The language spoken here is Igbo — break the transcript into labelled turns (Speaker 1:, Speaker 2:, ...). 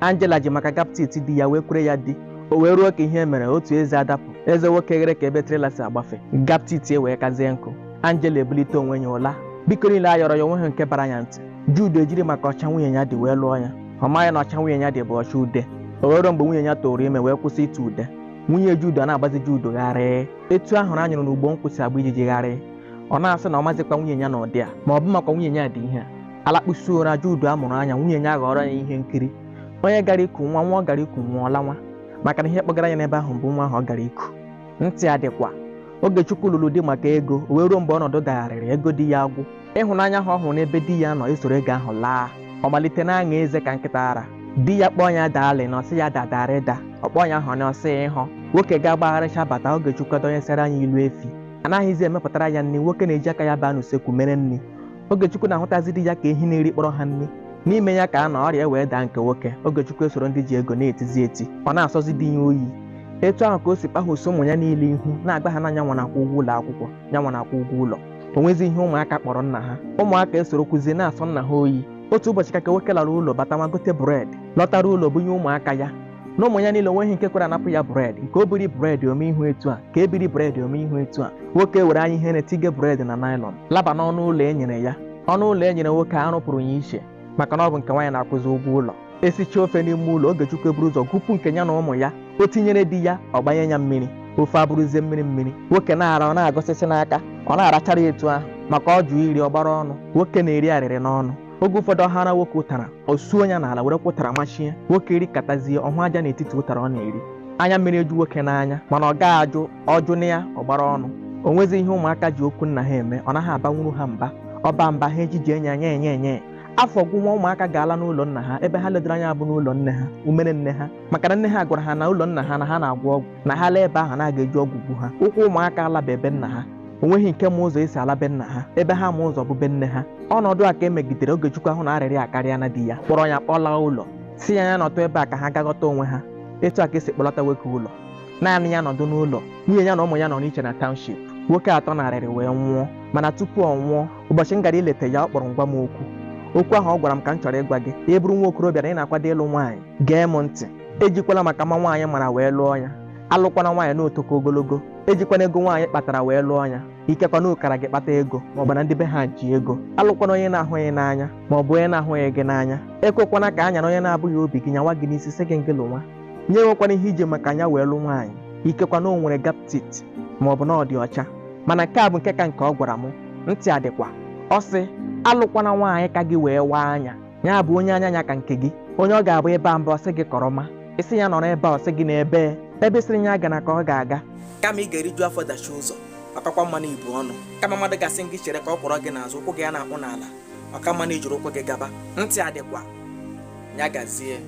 Speaker 1: Angela ji maka gap teeth di ya wee kwere ya di o wee ruo ka ihe mere otu eze adapụ eze nwoke ghere ka ebe trailer si agbafe gap teeth wee kazie nkụ Angela ebulite onwe ya ụla biko niile a yọrọ ya o nweghị nke bara ya ntị Jude ejiri maka ọcha nwunye ya dị wee lụọ ya ọ maghị na ọcha nwunye ya dị bụ ọcha ude o wee ruo mgbe nwunye ya tụụrụ ime wee kwụsị ịtụ ude nwunye Jude ọ na-agbazi Jude gharịị etu ahụrụ a nyụrụ n'ugbo nkwụ si agba ijiji gharịị ọ na-asị na ọ mazịkwa nwunye ya n'ụdị a ma ọ bụ makwa nwunye ya dị ihe a a lakpusịa ụra Jude amụrụ anya nwunye ya ghọrọ ya ihe nkiri onye gara iku nwa nwa ọ gara iku nwụọ ọ lawa maka na ihe kpọgara ya n'ebe ahụ bụ nwa ahụ ọ gara iku ntị adịkwa Ogechukwu lụrụ di maka ego o wee ruo mgbe ọnọdụ dagharịrị ego di ya agwụ ịhụnanya ahụ ọ hụrụ n'ebe di ya nọ esoro ego ahụ laa ọ malite na-aṅa eze ka nkịta ara di ya kpọọ ya darling ọ sị ya dadarịda ọ kpọọ ya honey ọ sị ịhụ nwoke ga-agbagharịcha bata Ogechukwu adọnyesịara anya ilu efi anaghịzi emepụtara ya nri nwoke na-eji aka ya baa n'usekwu mere nri Ogechukwu na-ahụtazi di ya ka ehi na-erikpọrọ ha nri n'ime ya ka a nọ ọrịa wee daa nke nwoke Ogechukwu esoro ndị ji ego na-etizi eti ọ na-asọzi di ya oyi etu ahụ ka o si kpahụso ụmụ ya niile ihu na-agwa ha na nyanwa na-akwụ ụgwọ ụlọ akwụkwọ nyanwa na-akwụ ụgwọ ụlọ o nwezi ihe ụmụaka kpọrọ nna ha ụmụaka esorokwuzie na-asọ nna ha oyi otu ụbọchị ka ka nwoke lara ụlọ batawa gote bread lọtara ụlọ bunye ụmụaka ya na ụmụ ya niile o nweghị nke kwere anapụ ya bread nke o biri bread o mee ihu etu a nke e biri bread o mee ihu etu a nwoke were anya ihere tige bread na nylon laba n'ọnụ ụlọ e nyere ya ọnụ ụlọ e nyere nwoke a rụpụrụ ya iche maka na ọ bụ nke nwaanyị na-akwụzi ụgwọ ụlọ e sicha ofe n'ime ụlọ Ogechukwu eburu ụzọ gupụ nke ya na ụmụ ya o tinyere di ya ọ gbanye ya mmiri ofe abụrụzie mmiri mmiri nwoke na-ara ọ na-agọsịsị n'aka ọ na-arachara etu ahụ maka ọ jụ iri ọ gbara ọnụ nwoke na-eri arịrị n'ọnụ oge ụfọdụ ọ hara nwoke ụtara o suo ya n'ala werekwa ụtara machie nwoke erikatazie ọ hụ aja n'etiti ụtara ọ na-eri anya mmiri eju nwoke n'anya mana ọ gaghị ajụ ọ jụ ya ọ gbara ọnụ o nwezi ihe ụmụaka ji okwu nna ha eme ọ naghị abanwuru ha mba ọ baa mba ha ejije ya nye nye nye afọ gwụwa ụmụaka ga-ala n'ụlọ nna ha ebe ha ledoro anya bụ n'ụlọ nne ha umere nne ha maka na nne ha gwara ha na ụlọ nna ha na ha na-agwọ ọgwụ na ha laa ebe ahụ na a ga-eji ọgwụ gbuo ha ụkwụ ụmụaka alabe be nna ha o nweghị nke ma ụzọ e si ala be nna ha ebe ha ma ụzọ bụ be nne ha ọnọdụ a ka e megidere Ogechukwu ahụ na arịrị akarịana di ya kpọrọ ya kpọlaa ụlọ sị ya ya nọtụ ebe a ka ha ga ghọta onwe ha etu a ka e si kpọlata nwoke ụlọ naanị ya nọdụ n'ụlọ nwunye ya na ụmụ ya nọ n'iche na township nwoke atọ n'arịrị wee nwụọ mana tupu ọ nwụọ ụbọchị m gara ileta ya ọ kpọrọ m gwa m okwu okwu ahụ ọ gwara m ka m chọrọ ịgwa gị ị bụrụ nwa okorobịa na ị na-akwado ịlụ nwaanyị gee m ntị ejikwala maka mma nwaanyị mara wee lụọ ya alụkwana nwaanyị na o toka ogologo ejikwana ego nwaanyị kpatara wee lụọ ya ikekwa na ọ kara gị kpata ego ma ọ bụ na ndị be ha ji ego alụkwana onye ị na-ahụghị n'anya ma ọ bụ onye na-ahụghị gị n'anya ekwekwana ka a nyara onye na-abụghị obi gị nyawa gị n'isi sị gị ngị lụwa ya enwekwana ihe i ji maka ya wee lụ nwaanyị ikekwa na o nwere gap teeth ma ọ bụ na ọ dị ọcha mana nke a bụ nke ka nke ọ gwara m ntị adịkwa ọ sị alụkwana nwaanyị ka gị wee waa anya ya bụ onye anya ya ka nke gị onye ọ ga-abụ ị baa ya mba ọ sị gị kọrọma ị sị ya nọrọ ebe a ọ sị gị na ebe ebe ị sịrị ya agana ka ọ ga-aga kama ị ga-eriju afọ dachie ụzọ ọ kakwa mma na i bu ọnụ kama mmadụ ga-asị gị chere ka ọ kwọrọ gị n'azụ ụkwụ gị ya na-akpụ n'ala ọ ka mma na i jiri ụkwụ gị gaba ntị adịkwa ya gazie